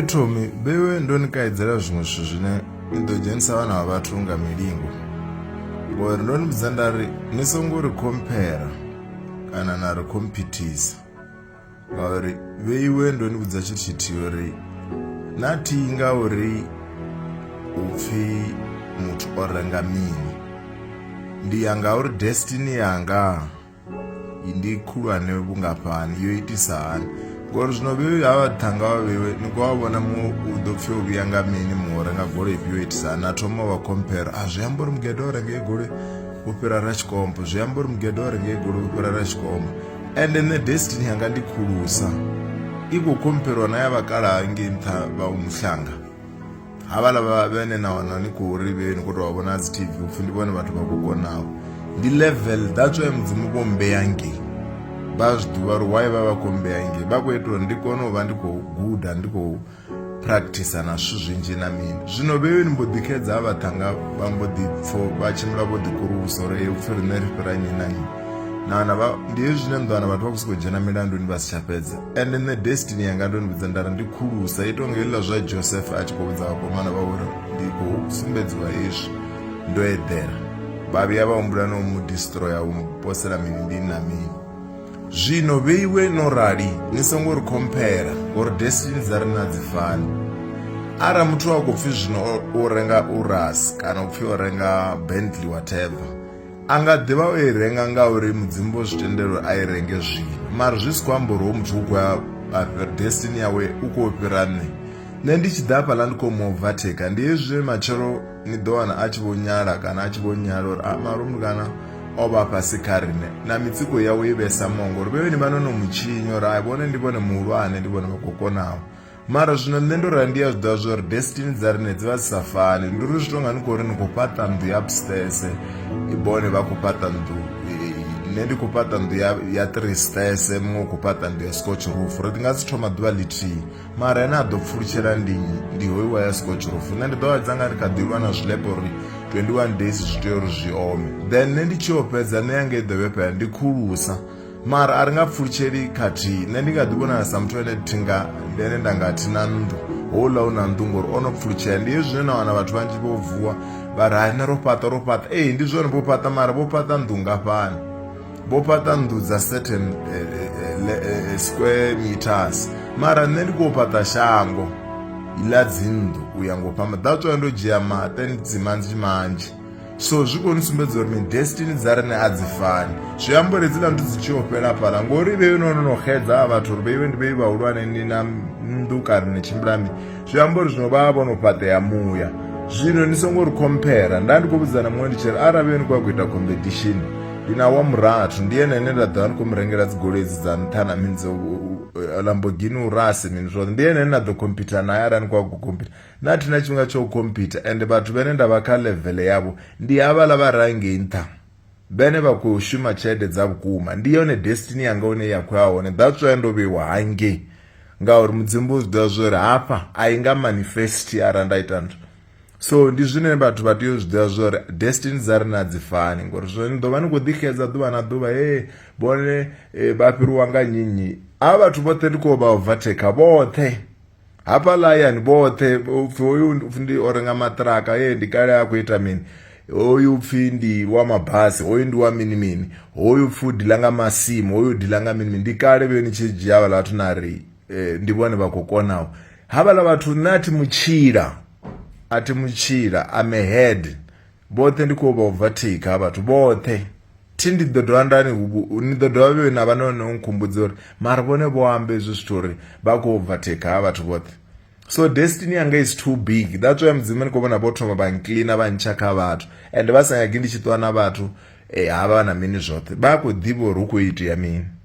thomi vhewe ndo ni kaidzelwa zwiṅwe zwithu zwine ni ḓo dzhenisa vhana vha vhathu nga milingo ngori ndo ni vhudza nda ri ni songo ri khomphera kana na ri khomphithisa ngauri vheiwe ndo ni vhudza tshithu tshithihi uri na thihi nga uri u pfhi muthu o renga mini ndi ya nga uri destiny yanga ndi khulwane vhungafhani yo itisa hani ngori zwino vhe ha vhathanga vha vhewe ni khou vha vhona muṅwe u ḓo pfhi o vhuya nga mini muṅwe o renga goloi ifhio yo itisa hani a thoma wa compare a zwi amba uri mugede o renga goloi u fhira ra tshikombo zwi amba uri mugede o renga goloi u fhira ra tshikombo ende nṋe destiny yanga ndi khulusa i khou khompheriwa na ya vhakalaha ngei nṱha vha umuhlanga havhala vha vhene na wana ni khou ri vheni khou tou vha vhona dzi tv upfhi ndi vhone vhathu vha khou konaho ndi level that's why mudzimu vho mbeya ngei vha zwi ḓivha uri why vha vha khou mbeya ngei vha khou ita uri ndi kone u vha ndi khou guda ndi khou practicer na zwithu zwinzhi na mini zwino vheyoni mbo ḓi xedza ha vhaṱhanga vha mbo ḓi pfo vha tshimbila vho ḓi kurulusa uri u pfhi riṋe ri fhira nyi na nyi naana ndi hezwi zwine nḓowana vhathu vha khou sokou dzhena milanduni vha si tsha fhedza ende nṋe destiny yanga ndo ni vhudza ndari ndi khulusa ito nga heliḽa zwa joseph a tshi khou vhudza vhakomana vha uri ndi khou sumbedziwa hezwi ndo eḓela vha vhuya vha humbula no mu distroya u posela mini ndi na mini zwino vheiwe no rali ni songo ri khomphela ngori destiny dza ri na dzi fani ara muthu a khou pfhi zwino u renga uras kana u pfhi o renga bentley whatever a nga ḓivha o i renga ngauri mudzimu vho zwi tendela uri a i renge zwino mara zwi si khou amba uri ho muthu u khou ya afhira destiny yawe u khou fhira nṋe nṋe ndi tshi ḓa hafhaḽa ndi khou mu overtake ndi hezwi matshelo ni ḓo wana a tshi vho nyala kana a tshi vho nyala uri a ah, marumu kana o vha fhasi kha riṋe na mitsiko yawe i vhesa mongo uri vhevheni vha no no mu tshinya uri a vhone ndi vhone muhulwane ndi vhone vha khou konaho mara zwino nṋe ndo rali ndi a zwiḓivha zwa uri destiny dza rine dzi vha dzi sa fani ndi uri zwi tonga ni khou ri ni khou fhaṱa nnḓu ya upstairs bone vha khou fhaṱa nnḓu nṋe ndi khou fhaṱa nnḓu ya three stairs muṅwe u khou fhaṱa nnḓu ya scotch roof ri ndi nga si thoma ḓuvha ḽithihi mara ene a ḓo pfulutshela ndi ndi hoiwa ya scotch roof nṋe ndi ḓo vha dzanga ri kha ḓivha na zwilepe uri 21 days zwi tea uri zwi ome then nṋe ndi tshi yo fhedza nṋe yanga i ḓo vhefhela ndi khulusa mara a ri nga pfulutsheli khathihi nṋe ndi nga ḓi vhonala sa muthu ane thinga ndi ane nda nga thi na nnḓu houḽa u na nnḓu ngori o no pfulutshela ndi hezwi zwine na wana vhathu vhanzhi vho vuwa vha ri hai nṋe ro fhaṱa ro fhaṱa ee ndi zwone vho fhaṱa mara vho fhaṱa nnḓu ngafhani vho fhaṱa nnḓu dza certain eh, eh, eh, square meters mara nṋe ndi khou fhaṱa shango ḽa dzinnḓu u ya ngo fhamba that's why ndo dzhia ma 10 dzimanzhi manzhi so zwi koni sumbedza uri ni destiny dza rine a dzi fani zwi amba uri dzi landu dzi tshi o fhela fhala ngori vhe no no no xedza a vhathu uri vheiwe ndi vhei vhahulwane ni na nnḓu kare ni tshimbilani zwi amba uri zwino vha vho no fhaṱea muya zwino ni songo ri compare nda ndi khou vhudzana muṅwe ndi tshi ri arali ni khou ya ku ita competition ndi na wa murathu ndi ene ene nda ḓo vha ni khou mu rengela dzi goloi dzi dza nṱha na mini dzo lambogini urasi mini zwoṱhe ndi ene ene nda ḓo computer naye arali ni khou ya ku computer Nṋe a thi na tshifhinga tsha u khomphitha ende vhathu vhane nda vha kha ḽevele yavho ndi havhaḽa vha re hangei nṱha vhene vha khou shuma tshelede dza vhukuma ndi yone destiny yanga hune ya khou ya hone that's why ndo vheiwa hangei ngauri mudzimu vho zwi ḓivha zwo ri hafha a i nga manifest arali nda ita nthu so ndi zwine vhathu vha tea u zwi ḓivha zwo uri destiny dza ri na dzi fani ngori zwo ni ḓo vha ni khou ḓi xedza ḓuvha na ḓuvha he vhone eh, vha fhiriwa nga nyinyi a vhathu vhoṱhe ndi khou vha overtaker vhoṱhe hafha layani vhoṱhe upfhi hoyu upfhi ndi o renga maṱiraka ye ndi kale a khou ita mini hoyu upfhi ndi wa mabasi hoyu ndi wa mini mini hoyu upfhi u dila nga masimu hoyu dila nga mini mini ndi kale vhe ni tshi dzhia vhala vhathu na ri eh, ndi vhone vha khou konaho havhala vhathu nṋe a thi mutshila a thi mutshila ame head Vhoṱhe ndi khou vha u bva thikha ha vhathu vhoṱhe. Thi ndi ḓo dovha nda ni ni ḓo dovha vhe na vha no no nkhumbudza uri mara vhone vho amba hezwi zwithu uri vha khou bva thikha ha vhathu vhoṱhe. So destiny yanga is too big that's why mudzimu ni khou vhona vho thoma vha nkiḽina vha ntsha kha vhathu ende vha sa nyagi ndi tshi ṱuwa na vhathu havha na mini zwoṱhe vha a khou ḓivha uri hu khou itea mini.